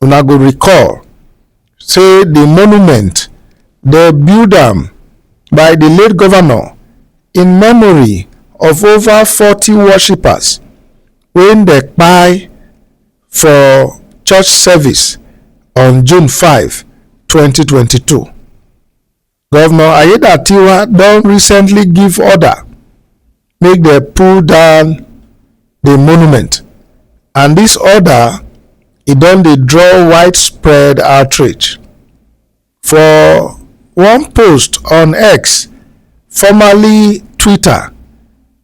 una go recall say di monument dey build am by di late govnor in memory of ova forty worshippers wey dem kpai for church service on june five twenty twenty two. Governor Aiyedatiwa don recently give order make dem pull down the monument and this order e don dey draw widespread outrage. For one post on X, formerly Twitter,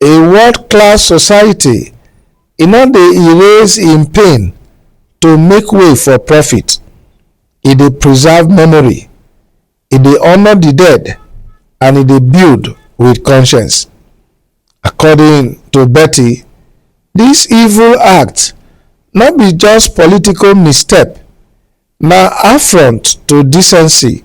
A world-class society e no dey erase im pain to make way for profit, e dey preserve memory, e dey honour di dead and e dey build with conscience. According to Betty, dis evil act no be just political misstep, na affront to decency,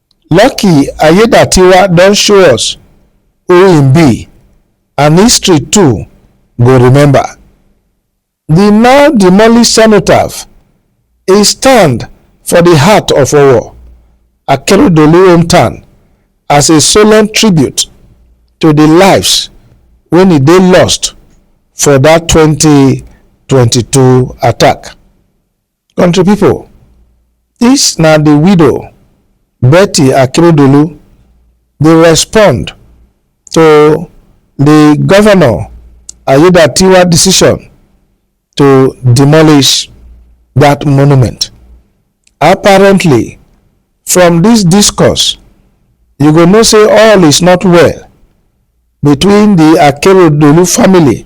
Lucky Aiyedatiwa don show us who im be and history too go remember di now demolished cenotaph, e stand for di heart of Owo, Akeredolu hometown as a solemn tribute to di lives wey e dey lost for dat twenty twenty two attack. Country pipo, dis na di widow Betty Akeredolu dey respond to di Govnor Aiyedatiwa decision to demolish dat monument. Apparently from dis discourse you go know say all is not well between di Akeredolu family.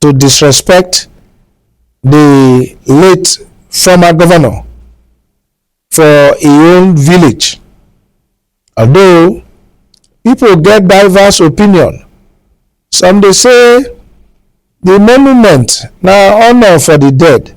to disrespect the late former governor for his own village. Although people get diverse opinion, some they say the monument now honor for the dead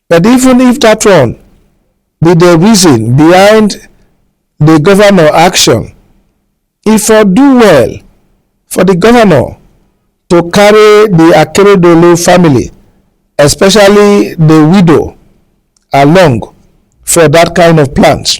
But even if dat one be di reason behind di govnor action, e for do well for di govnor to carry di Akeredolu family, especially di widow along for dat kain of plans.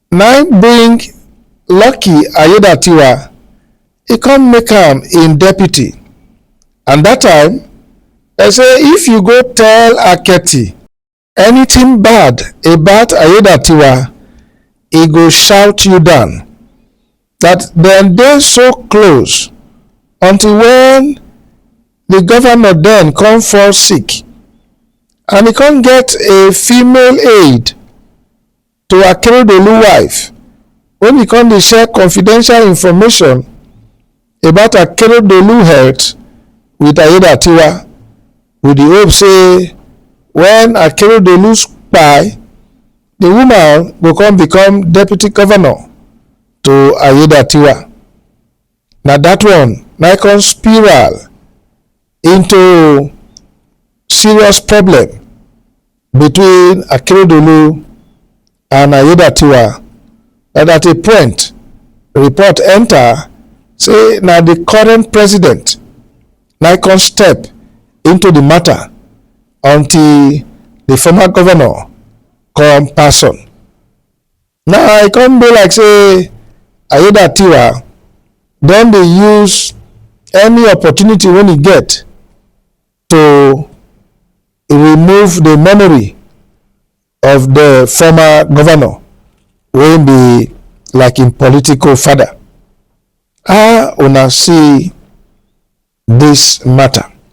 Na im bring Lucky Aiyedatiwa, e come make am im deputy and dat time dem say if you go tell Aketi anything bad about Aiyedatiwa, e go shout you down, dat dem dey so close until when di governor den come fall sick and e come get a female aide. to Akeredolu wife when he come dey share confidential information about Akeredolu health with Ayedatiwa with the hope say when Akeredolu kpai, the woman go come become deputy governor to Ayedatiwa. na that one na come spiral into serious problem between Akeredolu and Ayedatiwa that at a point report enter say na the current president na come step into the matter until the former governor come pass on. Now e come be like say Aiyedatiwa don dey use any opportunity wey e get to remove the memory of the former governor wey be like im political father. How una see this matter?